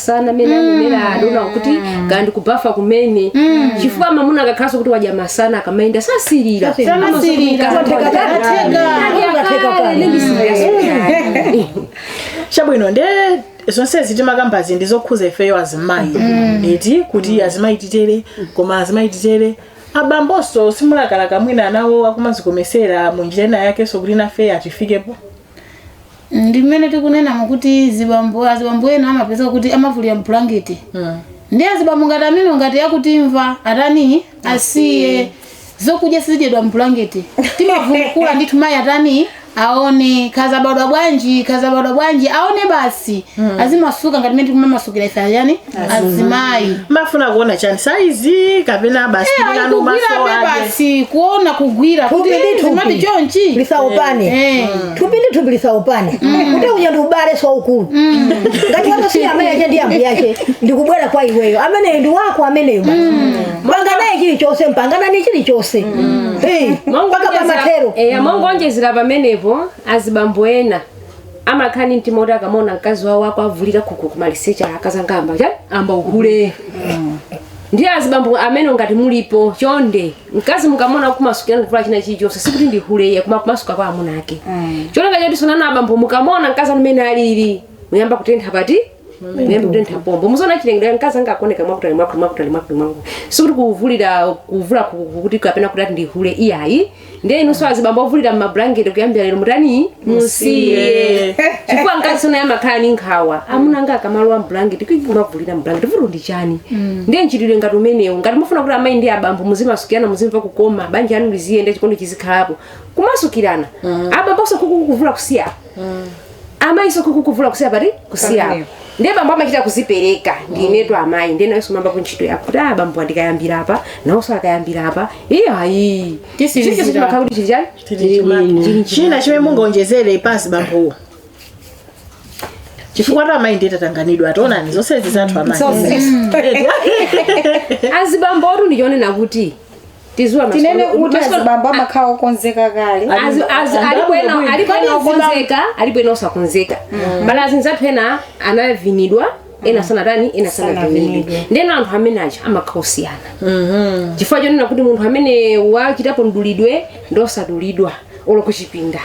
sana mmene anenera adona kuti kaya ndikubafa kumene chifukwa mamuna akakhalanso kuti wadya masana akamayenda sasirira Samasirira. chabwino nde zonsezi timakambazi ndi zokhuza ifeyo azimayi eti kuti azimayi titere koma azimayi titere abambonso simulakalaka mwina nawo akumazikomesera mu njira ina yakenso kuti nafe atifikepo ndi mmene tikunenamo kuti azibambo azibambo ena amapeza kuti amavulira mbulangete Mm. ndi azibambo ngati amene ngati akutimva atani asiye zokudya sizidyedwa mbulangete timavundukula ndithu mayi atani aone kazabadwa bwanji kazabadwa bwanji aone basi azimasuka ngati mmene tikumamasukira ife ayani azimayi mumafuna kuona chani saizi kapena basi Eh, ayi nanu maso kugwirabe aje basi kuona kugwira kuti Thupi ndi zimati thupi. chonchi lisaupane Eh. thupi ndi thupi lisaupane kuti uja ndi m'bale saukulu ngati wako si amayi ache ndi ambuye ache ndikubwera kwa iweyo ameneyo ndi wako ameneyo basi panga naye chilichonse mupanga nani chilichonse Eh, mpaka pamathero mongoonjezera pamenepo azibambo ena amakhala ndi mtima woti akamaona mkazi wawo akuavulika khukhu kumaliseche akazanga ayamba chani ayamba uhule ndiye azibambo amenewo ngati mulipo chonde mkazi mukamuona akumasukirani kuvula china chilichonse sikuti ndi hule iye koma kumasuka kwa amuna ake chonde ngati sonana abambo mukamuona mkazi mmene alili muyamba kutentha pati muyamba kutentha pompo muziona chilengedwe mkazi wanga akuoneka mwakutali mwakutali mwakutali mwakutali mwakutali sikuti kuvulira kuvula ku- ku- kuti kapena kuti ati ndihule iyayi ndiye inunso azibambo ovulira mmablanketi kuyambira lero mutani musiye chifukwa mkazi so naye amakhala ni nkhawa amuna anga akamalowa mblanketi kumavulira mblanketi vuto ndi chani ndiye mchitidwe ngati umenewu ngati mufuna kuti amayi ndi abambo muzimasukirana muzimva kukoma banja lanu liziyenda chikondi chizikhalapo kumasukirana abamboso kukuvula kusiya amayiso kukuvula kusiya pati kusiya Pamene. ndiye bambo amachita kuzipereka ndinetu amayi ndiye nawenso umayamba kuntchito yako kuti ah bambo andikayambira apa nawonso akayambira apa iye ayi Titsirizira. chilichonse chimakhala kuti chili chani Chili bwino. china chimene mungaonjezere pazibambowo chifukwa za amayi ndiye tatanganidwa taonani zonsezi za zathu amayi azibambotu ndichonena kuti tiziwa masiku tinene ano- kuti masiku ano- azibambo amakhala okonzeka kale Azi- azi- Angabu- alipo ena- angabu- alipo ena angabu- okonzeka alipo ena osakonzeka mbali azinzathu ena anavinidwa ena sanatani ena sanavinidwe Sanavinidwe. ndeno anthu amene aja amakhala osiyana chifukwa chonena kuti munthu amene wachitapo mdulidwe ndosadulidwa olo kuchipinda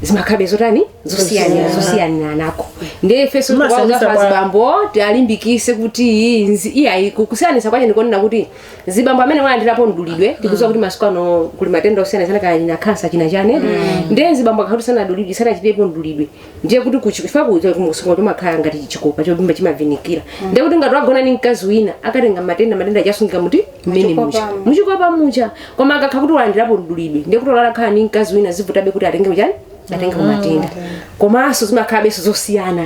zimakhalabe zotani zosiyana zosiyaniranako ndiye ifenso Masa- tikuwauza masa- pazibambo tialimbikise kuti izi- iyayi ku- kusiyanisa kwache ndikonena kuti zibambo amene walandirapo mdulidwe tikuziwa kuti masiku ano kuli matenda osiyanasiyana kaya kuli kansa china chane ndiye zibambo akakhala kuti sanadulidwe sanachitirepo mdulidwe ndiye kuti kuchifika kunsonga kumakhala ngati chikopa chovimba chimavinikira ndiye kuti ngati wagona ni mkazi wina akatenga matenda matenda aja asungika muti momwe muja Muchikopamu. muchikopa muja koma akakhala kuti walandirapo mdulidwe ndiye kuti wakhala ni mkazi wina zimavutabe kuti atenge chani atenge matenda komanso zimakhalabenso zosiyana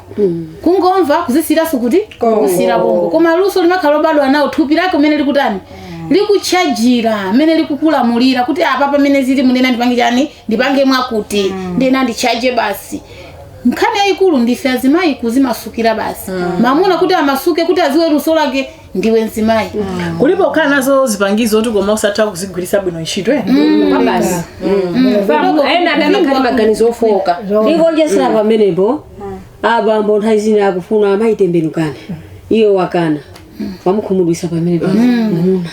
kungomva kuzisira sikuti kusira bongo koma luso limakhala lobadwa nalo thupi lako mmene likutani likuchajira mmene likukulamulira kuti apa pamene zili muneno ndipange chani ndipange mwakuti ndiye ndichaje basi nkhani yayikulu ndife azimayi kuzimasukira basi mamuna kuti amasuke kuti aziwe luso lake ndiwe mzimayi kulipo kukhala nazo zipangizo oti koma usatha kuzigwiritsa bwino ntchito eh? basi ena adakali maganizo ofoka ndikonjezera pamenepo abambo nthawi zina akufuna amayi tembenukani iwe wakana wamukhumudwitsa pamenepo Mm.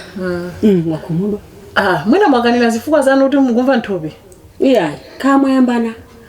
Mm, wakhumudwa Ah, mwina mwakanira zifukwa zanu kuti mukumva nthupi iyayi kale mwayambana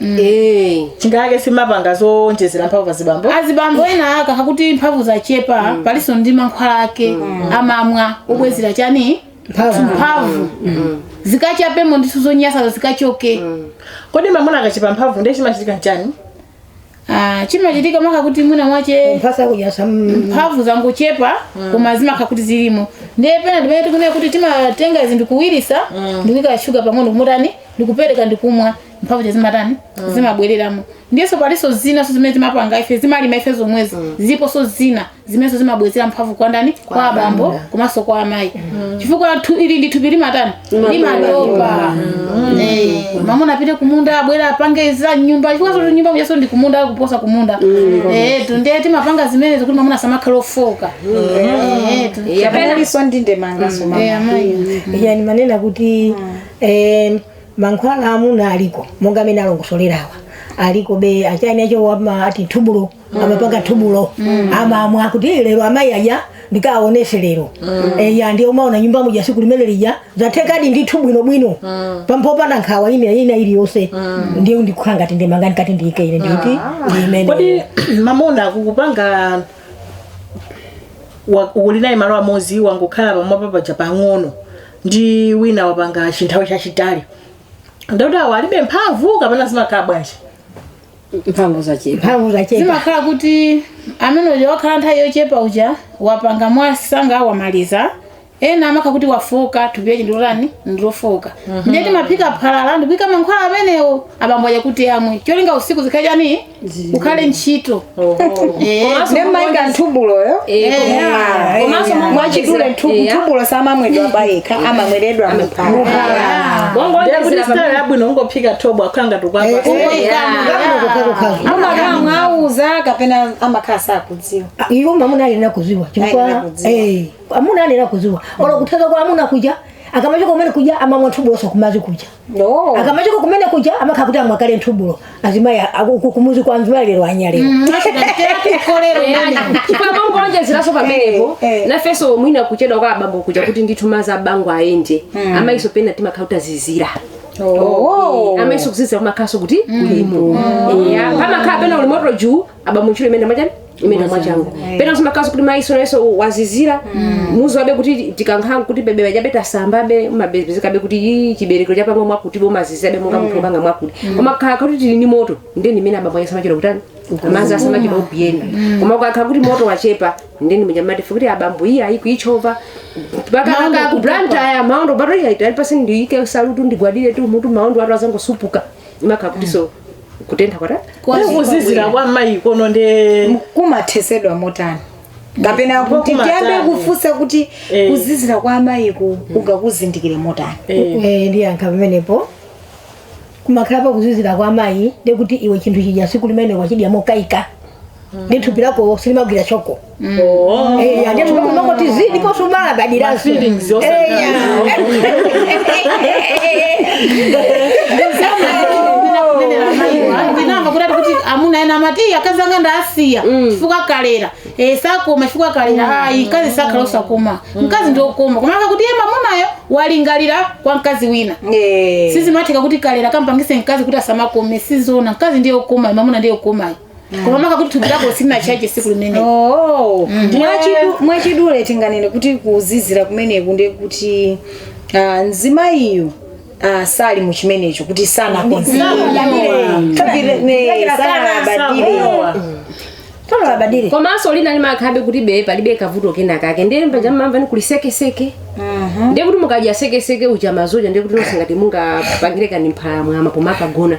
Eh. chingakhale timapanga zowonjezera mphamvu pa azibambo azibambo ena akakhala kuti mphamvu zachepa palinso ndi mankhwala ake amamwa obwezera chani mphamvu zikachapemo ndinso zonyasazo zikachoke kodi mamuna akachepa mphamvu ndiye chimachitika nchani Ah, chimachitika maka kuti mwina mwache mujamo mphamvu zangochepa koma zimakhala kuti zilimo ndiye pena ndimene tikunena kuti timatenga zinthu kuwiritsa ndikuika shuga pang'ono kumutani ndikupereka ndikumwa mphamvu zija zimatani zimabwereramo ndiyenso palinso zinanso zimene timapanga ife timalima ife zomwezi ziponso zina zimenenso zimabwezera mphamvu kwa ndani kwa abambo amuna. komanso kwa amayi chifukwa thu- ili ndi thupi limatani limatopa Eh, mamuna apite kumunda abwera apange za nyumba chifukwa choti m'nyumba mujaso ndi kumunda kuposa kumunda Eh, tu ndiye timapanga zimenezo kuti mamuna asamakhale ofoka Eh, tu- Kapena- Kapena ndi ndemanga soma. Eh, amayi yani manena kuti eh, Mankhwala a amuna aliko monga amene alongosolera awa aliko be achani acho wama ati thubulo amapanga thubulo amamwa kuti "Eh, lero amayi aja ndikaonetse lero eya ndiye umaona nyumba muja tsiku limene lija zathekadi ndithu bwinobwino popanda nkhawa ina ina iliyonse ndiye ndikukhala ngati ndemanga ndikati ndiyike ine nditi imene kodi mamuna akukupanga wa- uli naye malo amodzi wangokhala pamwamba paja pang'ono ndi wina wapanga chinthawi chachitali ndikuti awo alibe mphamvu kapena zimakhala bwanji mphamvu zachepa mphamvu zachepa zimakhala kuti amene uja wakhala nthawi yochepa uja wapanga mwasanga wamaliza ena amakhala kuti wafoka thupi lache ndilotani ndilofoka ndiye timaphika phala ndikuika mankhwala amenewo abambo aja kuti amwe cholinga usiku ukhale chani ukhale ntchito ndiye mumaika nthubuloyo komanso mwachidule nthubulo samamwedwa payekha amamweredwa muphala Ndiye kuti style yabwino ungophika thobwa kukhala ngati tikuwapatsa amakhala mwauza kapena amakhala sakudziwa iwo mamuna alina kuziwa Alina chifukwa kuziwa. eh, amuna alina kuziwa olo kuthandiza kwa amuna kuja akamachoka kumene kuja amamwa nthubuloso kumudzi kuja No. akamachoka kumene kuja amakhala kuti amwa kale nthubulo azimayi a- a- ku- kumuzi kwa mzimayi lero anya lero timangonjezeraso pamenepo Eh, eh. nafenso mwina kuchedwa kwa abambo kuja kuti ndithu madzi abambo ayende amayiso pena timakhala kuti azizira Oh. amayiso kuzizira kumakhalanso kuti kuliko eya pamakhala pena uli moto juu abambo ntchito imene imachani imene mwachangu pena umakhalaso kuti mayiso nayeso wazizira muzi wabe kuti tikankhala kuti bebe ujabe tasambabe mapezekabe kuti yi chibereko chapanga mwakuti bomazizirabe monga munthu opanga mwakuti komakhala kuti tili ndi moto ndeni imene abambo ake samachita kutani manzi samachita kupiyenda koma kukakhala kuti moto wachepa ndeni muja amati ife kuti abambo iyi ayi kuichova pakanaka ku Blantyre maondo atuwa aitali pansi ndiyike salutu ndigwadiretu mutu maondo atu adzangosupuka imakhala kuti so kutentha kwatha kuzizira kwa mayi kono nde kumathetsedwa motani kapena Ndipo kuti kumatani. tiyambe kufunsa kuti Eh. kuzizira kwa amayiku ungakuzindikire motani Eh, ndiyankha pamenepo kumakhala pa kuzizira kwa mayi ndekuti iwe chinthu chija tsiku limene wachidya mokaika ndi thupi lako silimagwira choko Eh, ate tunakumva kuti zii ndipo sumabadiraso Feelings also. ndinamva kuti ati kuti amuna ena amati "Iya, akazi anga ndawasiya chifukwa kalera Eh, sakoma chifukwa kalera ayi mkazi sakhala osakoma mkazi ndiokoma koma maka kuti iye mamunayo walingalira kwa mkazi wina sizimatheka kuti kalera kampangitse mkazi kuti asamakome sizona mkazi ndiwokoma mamuna ndiwokoma koma maka kuti thupi lako silinachaje tsiku limene Oh, Mm. mwachidu- mwachidule tinganene kuti kuzizira kumeneku ndi kuti ah, mzimayiyu ah, sali mu chimenecho kuti sanakonzekera sanabadire komanso lina limakhalabe kuti be palibe kavuto kena kake ndiye mpaja mumamva ndi kuli sekeseke ndiye kuti mukadya sekeseke uja mumachaja ndiye kuti nonse ngati mungapangire kaye mphalamwama pomakagona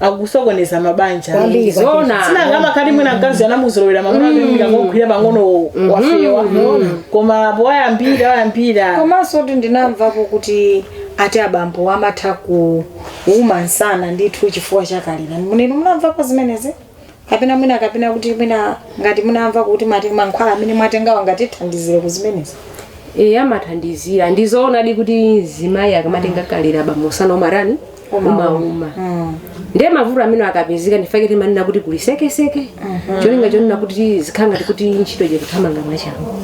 akusokoneza mabanja Kwambiri, Zona. sinanga amakhala kuti mwina mkazi anamuzolowera mamuna amangomira ngogwira pang'ono wafewa koma apo wayambira wayambira komanso kuti ndinamvapo kuti ati abambo amatha kuuma msana ndithu chifukwa cha kalera mwina inu munamvapo zimenezi kapena mwina kapena kuti mwina ngati munamva kuti mate- mankhwala amene mwatengawa angatithandizire ku zimenezi e amathandizira ndizoonadi kuti mzimayi akamatenga kalera abambo msana umatani umauma ndiye mavuto amene akupezeka nchifake timanena kuti kuli sekeseke cholinga chonena kuti zikhala ngati kuti ntchito ikuthamanga mwachangu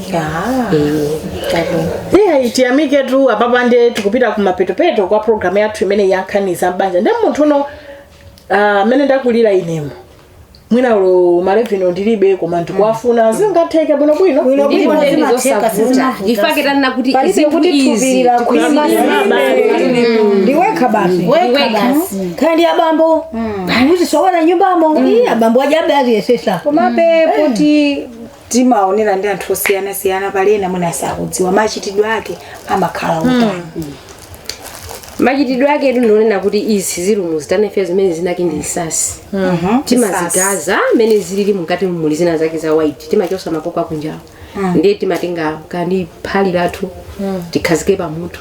eyi tiyamiketu apapa nde tikupita ku mapetopeto kwa programu yathu imene ya nkhani za m'banja nde munthu uno Ah, mene ndakulira inemu mwina ulo malevino ndilibe koma ndikuwafuna zingatheke bwino bwino Bwino Ndilipo bwino. ndeni Zimatheka, zosavuta sizimavuta. chifake tanena kuti palibe zinthu kuti izi tupilira kuima ndiwekha basi ndiwekha basi kaya ndi abambo kuzisowana m'nyumbamo Ii, abambo ajabe aziyesetsa komabe kuti timaonera ndi anthu osiyanasiyana pali ena mwina sakudziwa machitidwe ake amakhala otani machitidwe ake ndi onena kuti izi ziri muzitanefe zimene dzina lake ndi nsasi Mhm. timazigaza mmene zilili mukati muli zina zake za white timachosa makoko akunjawo ndiye timatenga kandi phale lathu tikhazike pamoto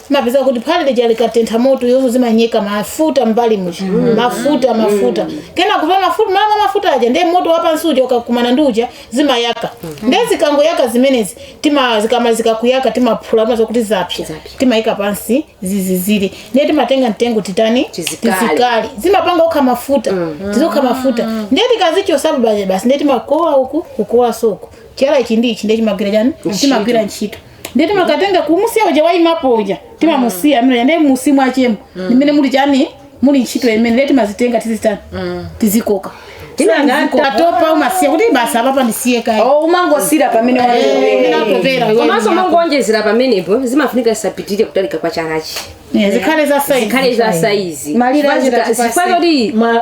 mapeza kuti phale lija likatentha moto yonso zimanyeka mafuta mbali muja mm. mafuta mm. mafuta mm. kena kuva mafuta mama mafuta aja ndiye moto wapansi uja ukakumana ndi uja zimayaka mm -hmm. ndiye zikangoyaka zimenezi tima zikamalizika kuyaka timaphula maza kuti zapsa timayika pansi zizizire ndiye timatenga mtengo titani tizikali zimapanga ukha mafuta mm -hmm. tizokha mafuta mm. ndiye tikazichosapo paja basi ndiye timakowa uku kukowa soko chala ichi ndi ichi ndiye chimagwira chani chimagwira ntchito ndiye timakatenga kumusiya uja waimapo uja timamusiya amene ndiye musi mwachemo ndimene muli chani muli ntchito imene ndiye timazitenga tizitani tizikoka Tinanga- tatopa umasiya kuti basi apapa ndisiye kaye Oh, umangosiyira pamene Eh, waiwe. ndinatopera iwe komanso mnyako. mangonjezera pamenepo zimafunika zisapitirire kutalika kwa chalachi Eh, zikhale za saizi zikhale za saizi Malire achita Zifika- zifika chipaseni. kuti Ma-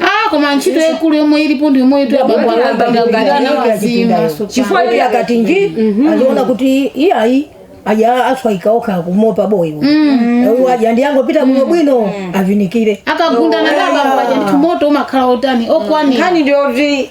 Ah, koma ntchito yaikulu yomwe ilipo ndi yomweyitu abambo akagawirana wazima chifukwa iye akati nji aziona kuti iyayi aja aswaika okha kumopa boyi uyu aja ndi angopita kuno bwino avinikire akagundana ndi abambo aja ndithu moto umakhala otani okwanira nkhani ndiyoti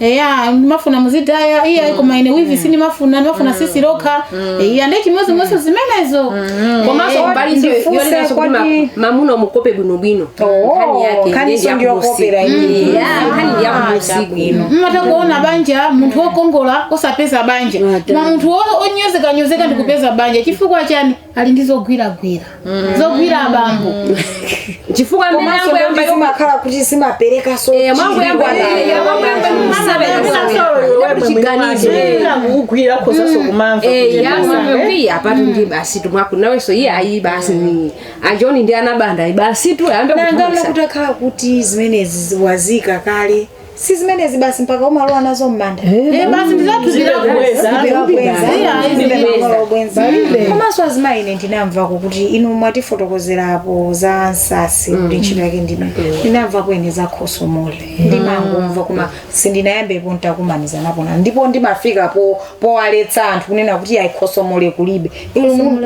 eya ndimafuna muzidaya iya mm. koma ine wivi mm. sindimafuna ndimafuna mm. sisi lokha mm. iya nde chimodzimodziso mm. zimenezo mm. komanso eh, mbalizo yonenaso kuti ma, mamuna umukope bwinobwino oh, nkhani yake nkhaniso ndiyokopera mm. mm. yeah, nkhani ndiya usiku bwino mumatha kuona mm. banja munthu wokongola osapeza banja ma munthu onyozekanyozeka ndikupeza banja chifukwa chani ali ndi zogwiragwira zogwira abambo chifukwa amene komanso ambo yamba ndalama zimakhala kuti zimapereka so Eh, mambo yamba chiri yamba kwa yamba bambo. chiganizo kugwira kozaso kumamva Eh, yamwe apatu ndi basi tumwaku nawenso iye ayi basi ni ajoni ndi anabanda ayi basitu ayambe nangana kutumisa kutakhala kuti zimenezi wazika kale si zimenezi basi mpaka umalowa nazo m'manda Eh, basi ndizatuzira kubweza Ndibweza. komanso azimayi ine ndinamvako kuti inu mwatifotokozerapo za nsasi kuti ntchito yake ndime ndinamvako ine za khosomole ndimangomva koma sindinayambepo ntakumanizanapo na ndipo ndimafika po powaletsa anthu kunena kuti ayi khosomole kulibe inu mu-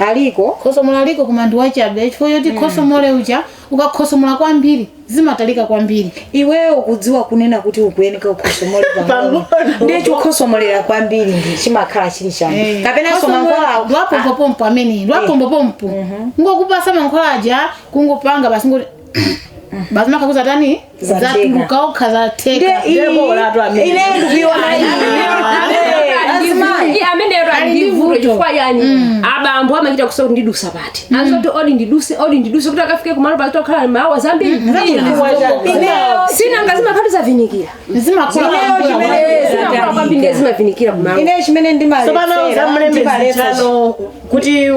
aliko khosomole aliko koma ndiwachabe chifukwa choti khosomole uja Ukakhosomola kwambiri zimatalika kwambiri. Iweyo ukudziwa kunena kuti ukuyeneka ukhosomole pang'ono. Ndiye chokhosomolera kwambiri ndi chimakhala chili chani. Eh, Kapenaso khosomola mankhwala aku- wapompopompo amene ndi wapompopompo ngokupasa mankhwala aja kungopanga basi ngoti basi makhakuza tani zatuluka okha zatheka abambo amachita kusowa kuti ndidutsa pati mm. azingoti odi ndiduse odi ndiduse kuti akafike kumalo patokhala mawa zambiri mm. sinanga zimakhalatu zavinikira zimavinikira kumalo kuti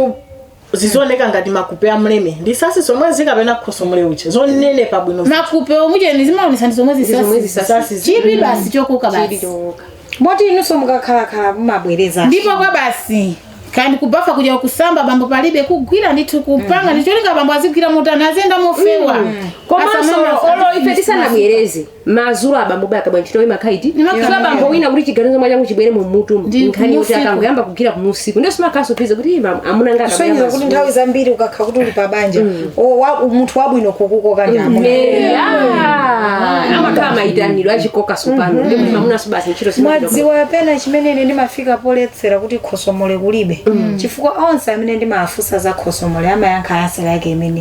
zizioneka ngati makupe a mleme ndi zisasi zomwe zikapena khosomole uja zonenepa bwino makupe omucheni zimaonetsa ndi zomwe Ndi zomwe zisasi zisasi zi- chipi basi chokuka basi chilichoka moti inunso mukakhalakhala mumabwereza ndipo kwa basi kaya ndi kubafa kuja kusamba bambo palibe kugwira ndithu kupanga ndicholinga bambo azigwira motani aziyenda mofewa komanso Asamala- olo ife tisanabwereze madzulo abambo akagwa ntchito imakhala iti Imakhala Chifukwa bambo imeneyo. wina kuti chiganizo mwa changu chibwere mu mutu Ndi nkhani yoti kumusiku. akangoyamba kugwira kumusiku ndiye simakhalanso phindu kuti ima amuna ngati kusonyeza kuti nthawi zambiri ukakhala kuti uli pa banja o- wa- munthu wabwino kukukoka ndi amuna amakhala mayitanidwe achikoka tsopano ndi kuti mamuna subasi ntchito simagwira mwadziwa pena chimene ine ndimafika poletsera kuti khosomole kulibe chifukwa onse amene ndimawafunsa za khosomole amayankha yasera yake imene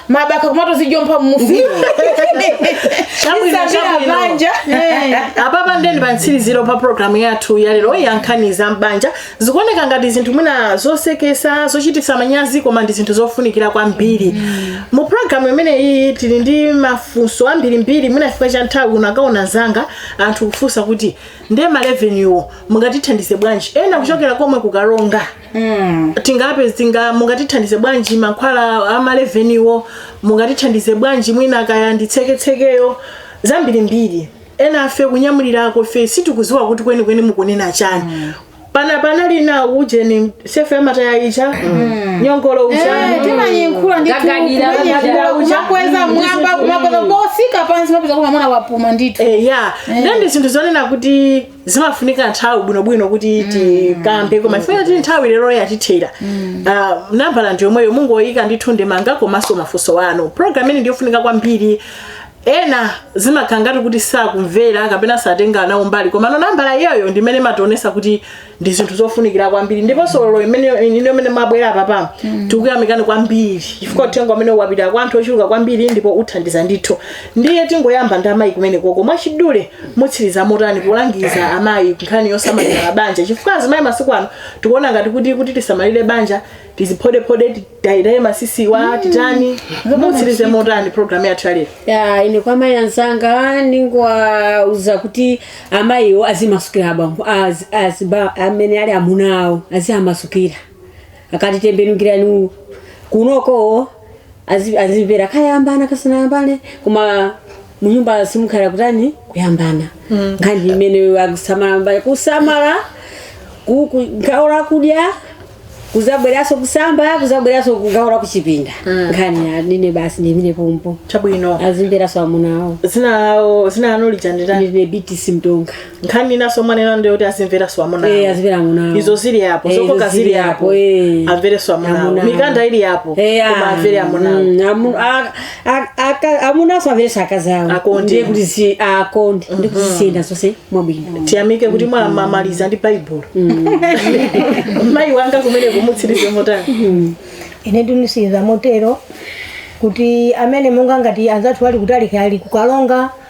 mabaka kumangozijompha mufuna banja apapa ndithu ndi pa mtsiriziro pa programu yathu yalero yankhani za mbanja zikuoneka ngati zinthu mwina zosekesa zochititsa manyazi koma ndi zinthu zofunikira kwambiri mu programu imeneyi tili ndi mafunso ambirimbiri mwina chifukwa cha nthawi ukanaona zamba anthu kufunsa kuti nde a Reverend-wo mungatithandize bwanji ena kuchokera komwe ku Karonga Mm. tingapeze mungatithandize bwanji mankhwala a mareverendiwo mungatithandize bwanji mwina kaya nditseketsekeyo zambirimbiri enafe kunyamulirako ife sitikudziwa kuti kwenikweni mukunena chani mm. pana panali na ujeni sefa ya mataya ija mm. nyongolo uja Eh, timanyankhula ndi ndithu kugagadira timanyankhula uja. kumakweza mwamba kumakweza potsika pansi mapeza koma mwana wapuma ndithu Eh, ya then ndi zinthu zonena kuti zimafunika nthawi bwinobwino kuti tikambe koma chifukwa choti nthawi lero yatithera Ah, nambala ndi yomweyo mungoyika ndithu ndemanga komanso mafunso anu programu ino ndiyofunika kwambiri ena zimakhala ngati kuti sakumvera kapena satenga nawo mbali koma nambala iyoyo ndi imene imationetsa kuti ndi zinthu zofunikira kwambiri ndiponso lero imene ino imene mwabwera pano tikuyamikani kwambiri chifukwa uthenga umene wapita kwa anthu ochuluka kwambiri ndipo uthandiza ndithu ndiye tingoyamba ndi amayi kumeneko ko mwachidule mutsiriza motani polangiza amayi nkhani yosamalira banja chifukwa azimayi masiku ano tikuona ngati kuti kuti tisamalire banja tiziphodephode tidayedaye matsitsiwa titani mutsirize motani programu yathu yalero ya ine kwa amayi anzanga ndingowauza kuti amayiwo azimasukira abambo az- aziba- amene ali amuna awo aziwamasukira akatitembenukirani uku kunoko azi- azimvera kayambana kasanayambane koma munyumba simukhala kutani kuyambana nkhani imene akusamala mbali kusamala ku- ku- gawo lakudya kuzabweranso kusamba kuzabweranso kugawo lakuchipinda nkhani anine basi ndimine pompo chabwino azimveranso amunawo dzina lawo dzina lanu lija nditani ndine biti simtonga nkhani inanso omwe anena ndiyo kuti azimveranso amuna Eh, awo. azivera amunawo. izo zili apo Eh, zokoka izo zili zili apo apo, eh. amverenso amuna awo. Amuna. mikanda ili apo Eh, koma ah, amvere amuna awo. mm, amu- a- a- aka- amunanso amverenso akazi awo Akonde. ndiye kuti zi- akonde ndi kuti zisiyenda zonse mwabwino tiyamike kuti mwamaliza ndi baibulo mayi wanga kumene mutsirize motani ine nditsiriza motero kuti amene monga ngati anzathu ali kutali kali kukalonga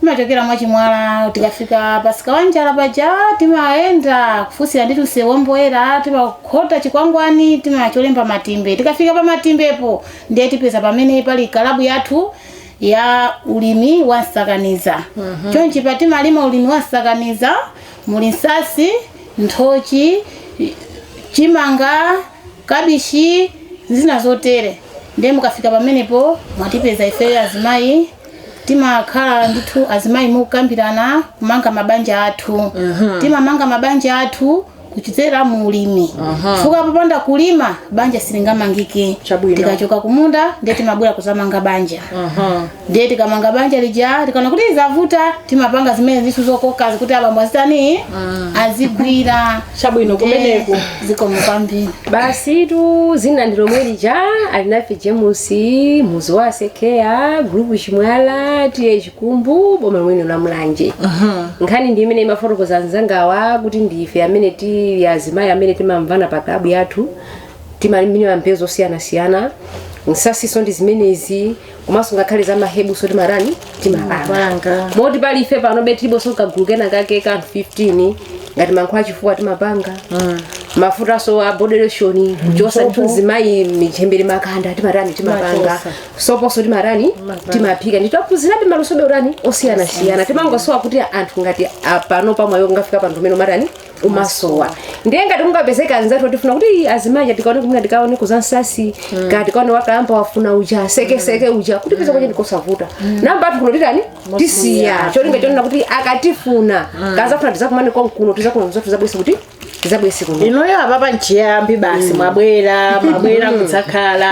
timachokera mwachimwala tikafika pamsika wanjala paja timayenda kufunsira ndi tunse womboyera timakhota chikwangwani timacholemba matimbe tikafika pa matimbepo ndiye tipeza pamene pali kalabu yathu ya ulimi wa msakaniza chonchi pa timalima ulimi wa msakaniza muli nsasi nthochi chimanga kabishi zina zotere ndiye mukafika pamenepo mwatipeza ifeyo azimayi timakhala ndithu azimayi mokambirana kumanga mabanja athu timamanga mabanja athu kudzera mu ulimi chifukwa popanda kulima banja silingamangike Chabwino. tikachoka kumunda ndiye timabwera kuzamanga banja ndiye tikamanga banja lija tikaona kuti zavuta timapanga zimenezitu zokokazi kuti abambo azitani azigwira chabwino kumeneko zikomo kwambiri basitu dzina ndi lomwe lija Alinafe James muzi wa asekea gulupu chimwala T/A Chikumbu boma lomwelino la Mulanje nkhani ndi imene imafotokoza anzangawa kuti ndife amene tili azimayi amene timamvana pa klabu yathu timalimira mbewu zosiyanasiyana nsasinso ndi zimenezi komanso ngakhale za mahebuso timatani timapanga Panga. moti panopa ife pano tiliponso kagulu kenakake ka 15 ngati mankhwala achifuwa timapanga mafutanso a body lotion kuchosa ndithu mzimayi michembere makanda timatani timapanga Timachosa. soponso timatani timaphika ndithu taphunzirabe malusobe utani osiyanasiyana timangosowa kuti anthu ngati apano pamwayo mwangofika pa nthawi umene umatani umasowa ndiye ngati kungapezeka anzathu akutifuna kuti "Ii, azimayi atikaone kumene tikaone kuzansasi ka tikaone wakalamba wafuna uja sekeseke uja kutipeza kwache ndikosavuta nambala yathu kuno titani tisiya cholinga chonena kuti akatifuna kazafuna tizakumane konkuno tizakulonza tizabwese kuti tizabwese kuno inoyo apapa nchiyambi basi mwabwera mwabwera kudzakhala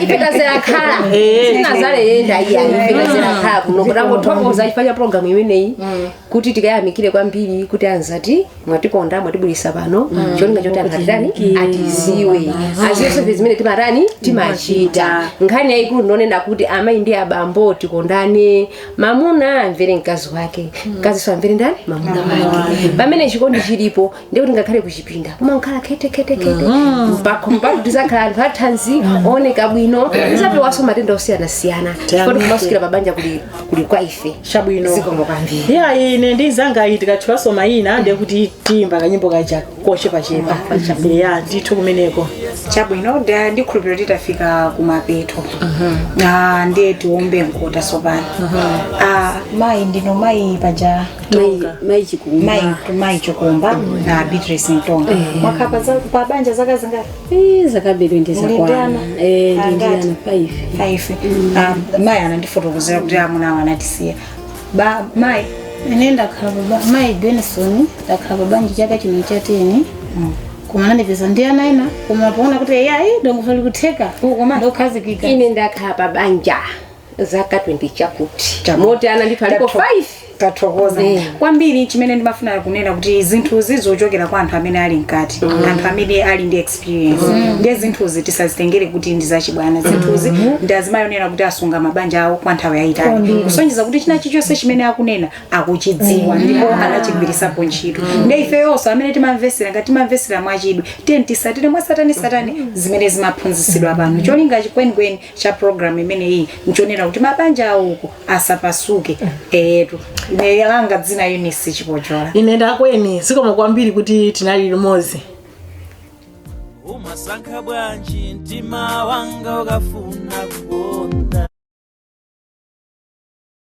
ipetazilakhala Eh. sinazaleyenda iya ipetazilakhala kuno kuti tangothokoza chifukwa cha programu imeneyi kuti tikayamikire kwambiri kuti anzati mwatikonda mwatiulutsa pano mm. cholinga choti anthu atitani atiziwe mm. aziwe zonse zimene timatani timachita nkhani yayikulu ndiyonena kuti amayi ndi abambo tikondane mamuna amvere mkazi wake mm. mkaziso amvere ndani mamuna wake pamene chikondi chilipo ndiye kuti ngakhale kuchipinda kumakhala khethekhethekhethe mpakho mpaka tizakhala anthu athanzi ooneka bwino tizapewanso matenda osiyanasiyana ndiye kumasukirana pabanja kuli kuli kwa ife Chabwino. zikomo kwambiri eya ine ndi mzangayi tikatchulaso mayina ndiye kuti tiyimba kanyimbo kaja kochepachepa eya ndithu kumeneko chabwino nda ndikhulupirira kuti tafika kumapeto Ah, ndiye tiombe mkota sopano Ah, mayi ndinu mayi paja Tonga. mai chikumba mai mai chokumba na Beatrice Mtonga mwakhala pa banja zaka zingati Eh, zakabiri ndi zakwana Muli ndi ana. Eh, ndi ndi Angati? ana 5 five Ah, mai anandifotokozera kuti amuna awo anatisiya pa mai ine ndakhala baba mai benison ndakhala pabanja chaka chino cha teni koma anandipeza ndi ana ena koma poona kuti ayi dongosolo likutheka Uko mai. ndi okhazikika ine ndakhala pa banja zaka 20 chakuti Chakuti. moti ana ndithu alipo Tatho- 5 tathokoza Eh. kwambiri chimene ndimafuna kunena kuti zinthuzi zochokera kwa anthu amene ali mkati anthu amene ali ndi experience ndiye zinthuzi tisazitengere kuti ndi zachibwana zinthuzi ndi azimayi onena kuti asunga mabanja awo kwa nthawi yayitali kusonyeza kuti china chilichonse chimene akunena akuchidziwa ndipo anachigwirisapo ntchito ndiye ifeyonso amene timamvesera ngati timamvesera mwachidwi tiyeni tisatire mwasatanasatane zimene zimaphunzitsidwa pano cholinga chikwenikweni cha program imeneyi nchonena kuti mabanja awoko asapasuke etu ine langa dzina Eunice Chipojola ine nda Gweni zikomo kwambiri kuti tinali limodzi umasankha bwanji mtima wanga ukafuna kukonda